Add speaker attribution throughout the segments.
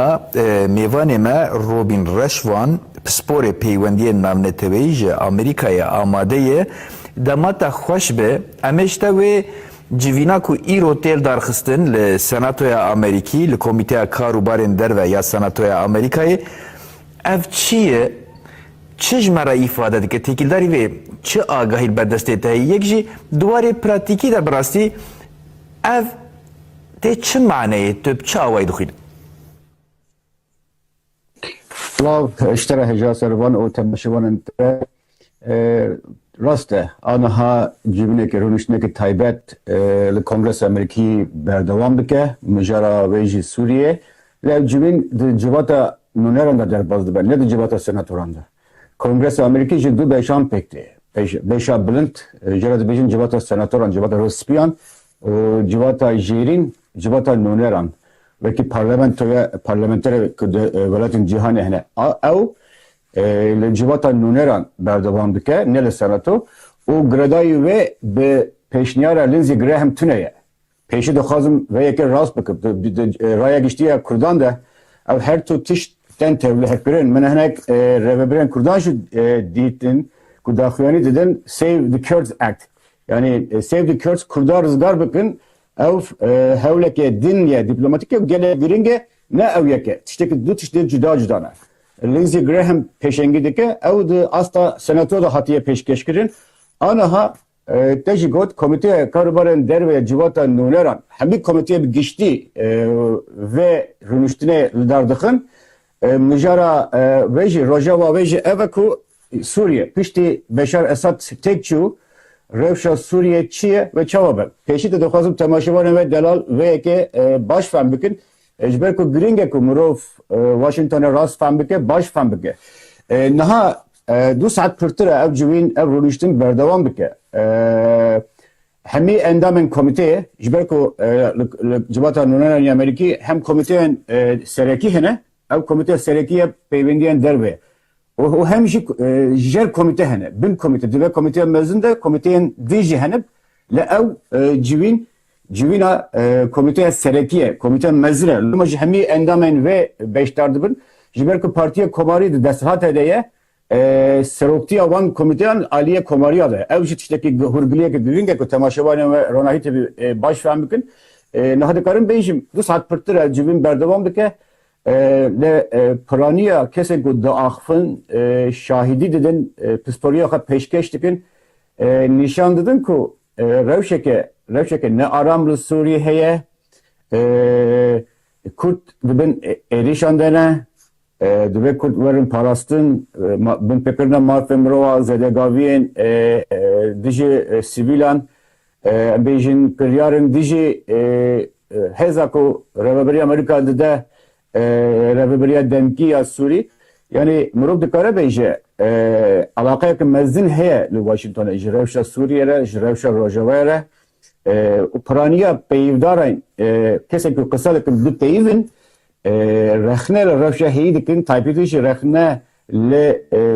Speaker 1: A mêvanê me Robîn Reşvan, pisporê peywendiyên navneteweyî ji Amerîkayê amade ye. Dema te xweş be, em ê ji te wê civîna ku îro têl darxistin li Senatoya Amerîkî, li Komîteya Kar û Barên Derve ya Senatoya Amerîkayê, ev çi ye, çi ji me re îfade dike, têkildarî vê çi agahî li ber destê te heye, yek jî di warê pratîkî de bi rastî ev Tê çi maneyê tu bi çi awayî dixwînî? Silav, ji te re hêja ser van û temaşevanên te. Rast e, aniha civîneke rûniştineke taybet li Kongresa Amerîkî berdewam dike, mijara wê jî Sûriyê. Lê ev civîn di civata nûneran de derbas dibe, ne di civata senatoran de. Kongresa Amerîkî ji du beşan pêk tê. Beşa bilind, jê re dibêjin civata senatoran, civata rûspiyan û civata jêrîn civata noneran wekî parlamentoya parlamenterê ku di welatên cîhanê hene a ew li civata noneran berdewam dike ne li senato û giredayî wê bi pêşniyara Lindsey Graham tune ye. Pêşî dixwazim vê yekê rast bikim. Di Raya Giştî ya Kurdan de ew her tu tişt tên tevlihevkirin. Min hinek rêvebirên kurdan jî dîtin ku daxuyanî didin Save the Kurds Act Yanî Save the Kurds Kurda rizgar bikin ew hewleke din ye, dîplomatîk ye û gelek girîng e, ne ew yek e. Tiştekî du tiştê cuda cuda ne. Lindsey Graham pêşengî dike, ew di asta Senato de hatiye pêşkêşkirin. Aniha te jî got Komîteya Karûbarên Derve ya Civata Nûneran hemî komîteyê bi giştî vê rûniştinê li dar dixin. Mijara wê jî, rojeva wê jî ev e ku Sûriye piştî Beşar Esad têk çû, rewşa Sûriyê çi ye ve çawa be. Pêşî de dixwazim temaşevanên we delal vê yekê baş fehm bikin. Ji ber ku girîng e ku mirov Washingtonê rast fehm bike, baş fehm bike. Niha du saet pirtir e ev civîn, ev rûniştin berdewam dike. Hemî endamên komîteyê ji ber ku li civata nûneranî ya Amerîkî hem komîteyên serekî hene, ew komîteya serekî ye peywendiyên derve û hem jî jer komîte hene, bin komîte, di vê komîteya mezin de komîteyên din jî hene lê ew civîn civîna komîteya serekî ye, komîteya mezin e. Loma jî hemî endamên vê beşdar dibin ji ber ku Partiyê Komarî di desthilatê de ye Seroktiya van komîteyan aliyê komariya de. Ew jî tiştekî hûrgiliyeke girîng e ku temaşevanên we ronahî tevî baş fehm bikin. Niha dikarim bêjim du saet pirtir e civîn berdewam dike. Li piraniya kesên ku diaxivin, şahîdî didin, pistoriya xwe pêşkêş dikin, nîşan didin ku rewşeke rewşeke ne aram li Sûriyê heye. Kurd di bin êrîşan de ne. Divê kurd werin parastin, binpêkirina mafên mirova, zêdegaviyên dijî sivîlan, em bêjin kiryarên dijî hêza ku Rêveberiya Amerîka dide Rêveberiya Demkî ya Sûrî, yanî mirov dikare bêje eleqeyeke mezin heye li Washingtonê ji rewşa Sûriyê re, ji rewşa rojavayê re û piraniya peyivdaran kesên ku qise dikin bipeyivin Rexne li rewşa heyî dikin, taybetî jî rexne li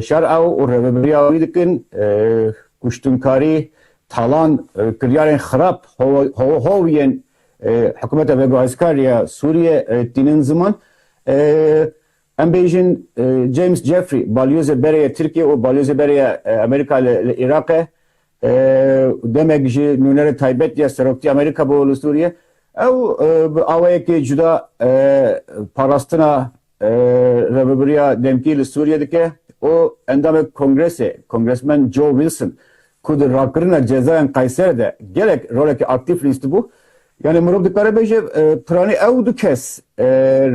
Speaker 1: şer ew û rêveberiya wî dikin. Kuştinkarî, talan, kiryarên xirab hov yên hikûmeta veguhezkar ya Sûriyê tînin ziman. Em bêjin James Jeffrey, balyozê berê ya Tirkiyê û balyozê berê ya Amerîka li Îraqê û demek ji nûnerê taybet ya Seroktiya Amerîka bo li Sûriyê ew bi awayekî cuda parastina rêvebiriya demkî li Sûriyê dike û endamê kongresê Kongresmen Joe Wilson ku di rakirina cezayan Qayser de gelek rolekî aktîf lîstibû yanî mirov dikare bêje piranî ew du kes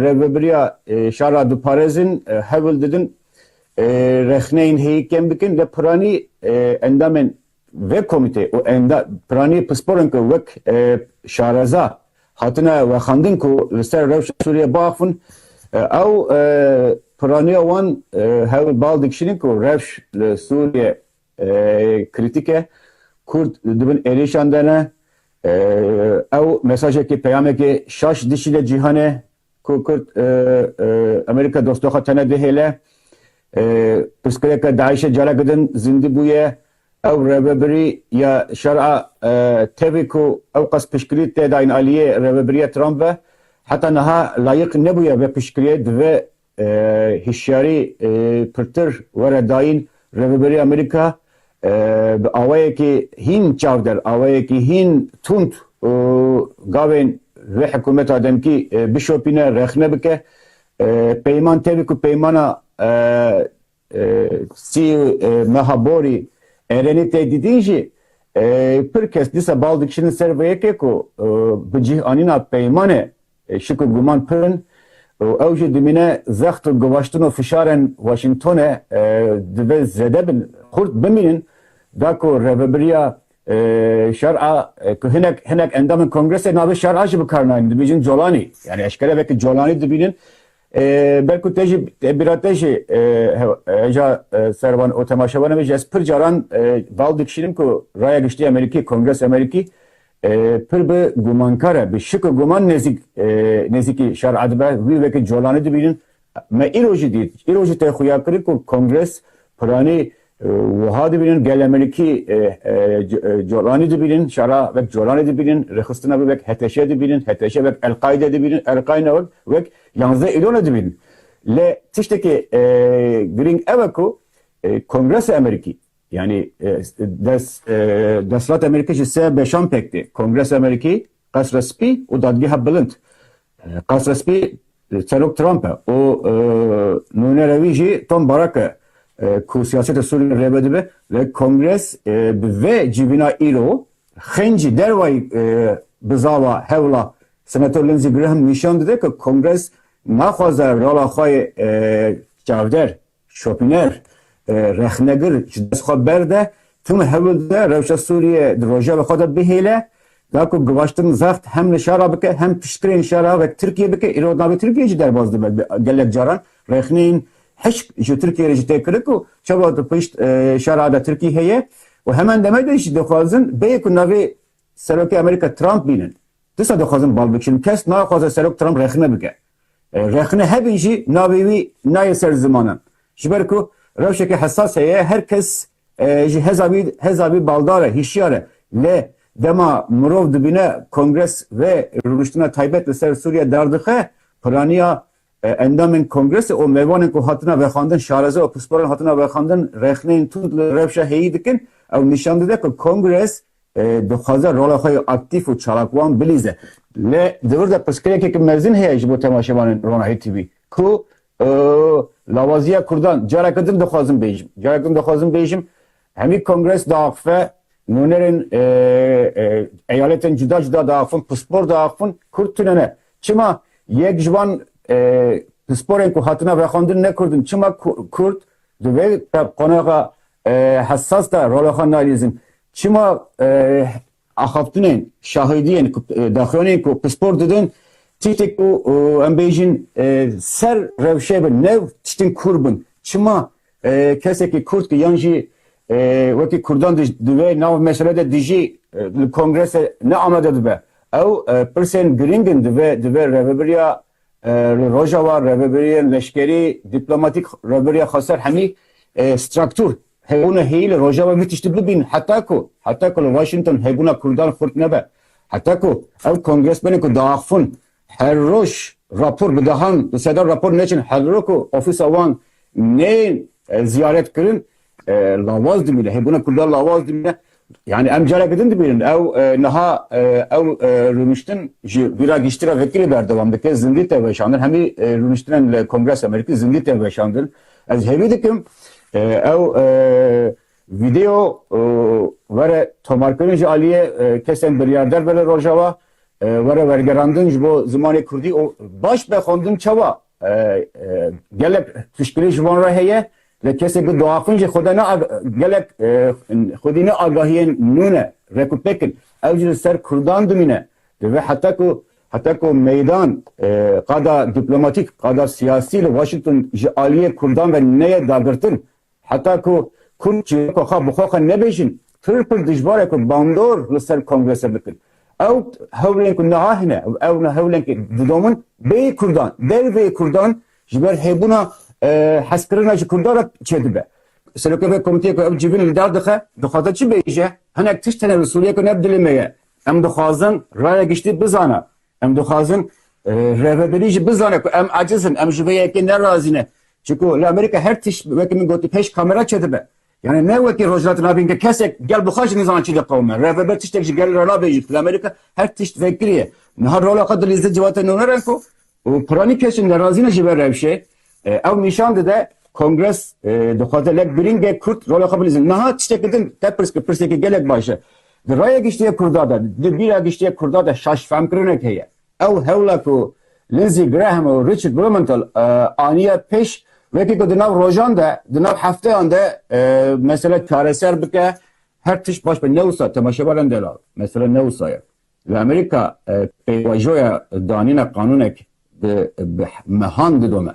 Speaker 1: rêvebiriya şara diparêzin hewil didin rexneyên heyî kêm dikin lê piranî endamên vê komîteyê û piranî pisporên ku wek şareza hatine wexandin ku li ser rewşa Sûriyeyê biaxivin ew piraniya wan hewl li bal dikişînin ku rewş li Sûriyeyê krîtîk e, Kurd di bin êrîşan de ne, ew mesajekê peyamekê şaş dişîne cîhanê ku Kurd Amerîka dosta xwe tene dihêle. Pirsgirêka DAIŞ'ê careke din zindî bûye. Ew rêvebirî ya şer a tevî ku ew qas piştgirî tê dayîn aliyê rêvebiriya Trump ve, heta niha layiq nebûye vê piştgiriyê divê hişyarî pirtir were dayîn rêvebirî Amerîka Bi awayekî hîn çavdêr, awayekî hîn tund û gavên vê hikumeta demkî bişopîne, rexne bike. Peyman tevî ku peymana sî meha borî Erenî tê dîdîn jî pir kes dîsa bal dikişînin ser vê yekê ku bi cih anîna peymanê Şik û guman pir in û ew jî dimîne zext û givaştin û fişarên Washingtonê divê zêde bin, xurt bimînin da ku rêvebiriya şer a ku hinek hinek endamên kongresê navê şer a jî bikarnayînin dibêjin colanî yanî eşkere vekî colanî dibînin ber ku te jî te bîra te jî hêja ser wan û temaşevanê min jî ez pir caran bal dikişînim ku raya giştî Amerîkî, Kongres Amerîkî Pir bi gumankar e, bi şik û guman nêzîk nêzîkî şer'a dibe, wî weke colanê dibînin. Me îro jî dît, îro jî tê xuya kirin ku Kongres piranî wiha dibînin, gel Amerîkî colanî dibînin, şer'a wek colanê dibînin, rêxistina wî wek heteşê dibînin, heteşê wek El-Qaîdê dibînin, El-Qaîna wek wek yanzdeh îlonê dibînin. Lê tiştekî girîng ew e ku Kongresa Amerîkî Yanî desthilatê Amerîkî ji sê beşan pêk tê, Kongresa Amerîkî, Qesra Spî û Dadgeha Bilind. Qesra Spî Serok Trump e û nûnera wî jî Tom Barak e ku siyasetê Sûriyê rêve dibe. Lê Kongres bi vê civîna îro xênc jî derwayî bi zava hewla Senator Lindsey Graham nîşan dide ku Kongres naxwaze rola xwe yê çavdêr Şopîner, rexnegir ji dest xwe berde, tim hewil dide rewşa Sûriyê di rojeva xwe de bihêle, da ku givaştin zext hem li şara bike hem piştgirên şara wek Tirkiye bike, îro di navê Tirkiyeyê jî derbas dibe. Gelek caran rexneyên hişk ji Tirkiyeyê re jî tê kirin ku çawa di pişt şara de Tirkî heye û heman demê de jî dixwazin bêyî ku navê Serokê Amerîka Trump bînin. Tisa dixwazin bal bikin. Kes naxwaze Serok Trump rexne bike. Rexne hebin jî navê wî nayê ser zimanan. Ji ber ku rewşeke hesas heye her kes ji heza wî heza wî baldar e, hîşyar e. Lê dema mirov dibîne Kongres vê rûniştina taybet li ser Sûriye dardixe, piraniya endamên Kongresê û mêvanên ku hatina vexandin, şareze û pisporan hatina vexandin rexneyên tund li rewşa heyî dikin, ew nîşan dide ku Kongres Dixwaze rola xwe yê aktîf û çalakwan bilîze. Lê di vir de pirsgirêkeke mezin heye ji bo temaşevanên Ronahî TV ku lawaziya kurdan careke din dixwazim bêjim. Careke din dixwazim bêjim hemî kongres diaxife, nûnerên eyaletên cuda cuda diaxifin, pispor diaxifin, kurd tune ne. Çima yek ji van pisporên ku hatine vexwendin ne kurd in? Çima kurd Di vê qonaxa hessas de rola xwe nalîzin. Çima axaftinên, şahidiyên ku daxuyanên ku pispor didin tiştê ku em bêjin ser rewşê bin, ne tiştên kûr bin. Çima kesekî kurd ki yan jî wekî kurdan di vê nav mesele de dijî li kongrese ne amade dibe. Ew pirsên girîng in di vê rêvebiriya Li Rojava rêvebiriyên leşkerî, dîplomatîk rêvebiriya Xweser Hemî straktûr hebûna heyî li Rojava vî tiştî bibînin heta ku heta ku li Washington hebûna Kurdan xurt nebe. Heta ku ew kongresmenên ku diaxivin her roj rapor bidahan, di seda rapor neçin hevrok û ofîsa wan neyên ziyaretkirin Lawaz dimîne, hêbûna Kurdan lawaz dimîne. Yani em careke din dibînin ew niha ew rûniştin ji vî ra giştî ra vekirî berdewam dike, zindî te weşandin. Hemî rûniştinan li Kongresa Amerîkî zindî te weşandin. Ez hêvî dikim ew vîdeo were tomarkirin ji aliyê kesên biryarder be li Rojava, were wergerandin ji bo zimanê Kurdî û baş be xwendin çawa gelek piştgirî ji wan re heye Lê kesê ku diaxin jî xwedê ne gelek xwedî ne agahiyên nû ne rek û pêk in. Ew jî li ser kurdan dimîne. Divê heta ku heta ku meydan qada dîplomatîk, qada siyasî li Washington ji aliyê kurdan ve neyê dagirtin, heta ku kurd çîroka xwe bi xwe xwe nebêjin, pir pir dijbar e ku bandor li ser kongrese bikin. Ew hewlên ku niha hene, ew ne hewlên ku didomin bêyî kurdan, derveyî kurdan Ji ber hebûna hezkirina ji Kurdan re çêdibe. Serokê vê komiteyê ku ev civîn li dar dixe, dixwaze çi bêje? Hinek tişt hene li Sûriyê ku ne bi dilê me ye. Em dixwazin raya giştî bizane. Em dixwazin rêveberî jî bizane ku em eciz in, em ji vê yekê ne razî ne. Çimkû li Amerîka her tişt wekî min gotî pêş kamera çêdibe. Yanî ne wekî Rojhilatê Navîn ke kesek gel bi xwe jî nizane çi diqewime. Revebe tiştek ji gel re nabe jî tu li Amerîka her tişt fêk kiriye. Niha rola xwe dilîze di civatên nûner e ku piranî kesên nerazî ne ji vê rewşê ew nîşan dide Kongres dixwaze lek birîngek Kurd rola xwe bilîze. Niha tiştekî din te pirs kir pirsekî gelek baş e. Di raya giştî ya Kurda de, di bîra giştî ya Kurda de şaş fehmkirinek heye. Ew hewla ku Lindsey Graham û Richard Blumenthal aniye pêş, wekî ku di nav rojan de, di nav hefteyan de mesele çareser bike, her tişt baş be. Ne wisa, temaşe bike ndela, mesele ne wisa ye. Li Amerîka pêvajoya danîna qanûnek bi mehan didome,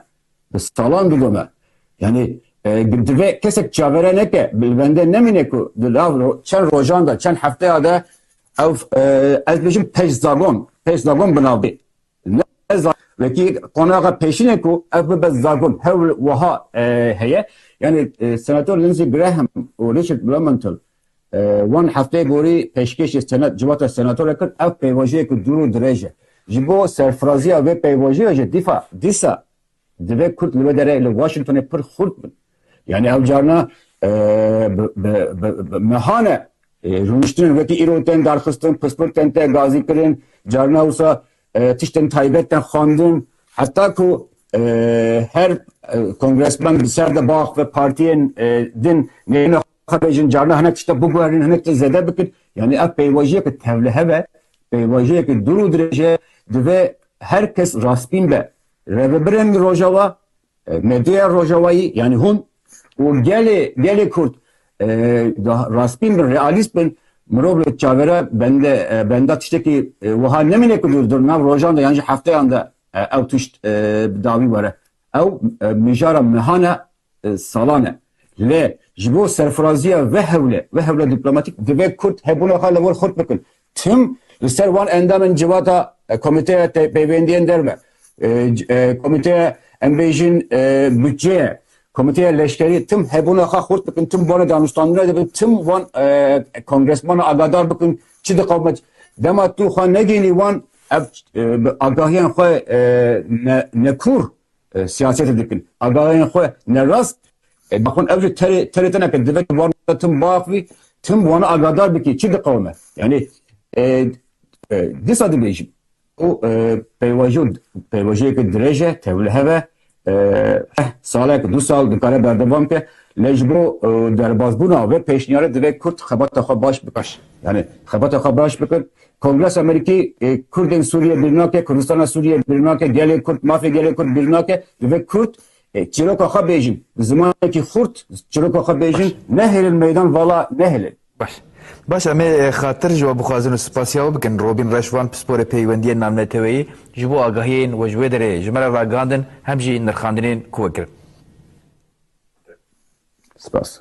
Speaker 1: bi salan didome. Yanî divê kesek çavere neke, li bendê nemîne ku di nav çend rojan de, çend hefteya de Ev ez dibêjim pejzagon, pejzagon bi nav bê. Wekî qonaxa pêşînê ku ev bibe zagon hewl wiha heye. Yanî Senator Lindsey Graham û Richard Blumenthal wan hefteyê borî pêşkêşî senet civata senatorê kir. Ev pêvajoyek dûr û dirêj e. Ji bo serfiraziya vê pêvajoyê jî dîfa dîsa Divê Kurd li wê derê li Washingtonê pir xurt bin. Yanî ew carna bi mehan e rûniştin wekî îro tên darxistin, pispir tên tê gazîkirin, carna wisa tiştên taybet tên xwendin. Heta ku her kongresmen bi ser de bax ve partiyên din nêne xwe bêjin, carna hinek tişta biguherînin, hinek tişt zêde bikin. Yanî ev pêvajiyeke tevlihev e, pêvajiyeke dûr û dirêj e. Divê her kes rastbîn be. Rêvebirên Rojava, medyaya Rojavayî yanî hûn û gelê gelê Kurd di rastbîn bin, realîst bin, mirov li çavêre bende benda tiştekî wiha nemîne ku di nav rojan de yan jî hefteyan de ew tişt bi dawî were. Ew mijara mehan e salan e. Lê ji bo serfiraziya vê hewlê, vê hewla dîplomatîk divê Kurd hebûna xwe li wir xurt bikin. Tim li ser wan endamên civata Komîteya Pêvendiyên Derve, Komîteya em bêjin Budceyê, Komîteya Leşkerî tim hebûna xwe xurt bikin, tim bone danûstandina de bin, tim wan kongresmanan agadar bikin çi diqewime. Dema tu xwe negihînî wan ev agahiyan xwe nekûr Siyasetê dikin. Agahiyên xwe ne rast daxwin ew jî terê terê te neke divê tu van tim baf bî tim wan agadar bikî çi diqewime. Yanî dîsa dibêjim û peywaji û peyvajiyeke dirêj e tevli heve salek du sal dikare berdevam ke lê ji bo derbazbûna vê pêşniyarê divê Kurd xebata xwe baş bikir. Yanî xebata xwe baş bikir Kongres Amerîkî Kurdên Sûriyê bîr nake, Kurdistana Sûriyê bîr nake, gelê Kurd, mafê gelê Kurd bîr nake. Divê Kurd çîroka xwe bêjin, bi zimanekî xurt çîroka xwe bêjin, nehêlin meydan vala nehêlin. Baş. Baş em ê xatir ji we bixwazin û spas ya we bikin. Robîn Reşvan, pisporê peywendiyên navneteweyî ji bo agahiyên we ji wê derê ji me re ragihandin hem jî nirxandinên ku we kirin. Spas.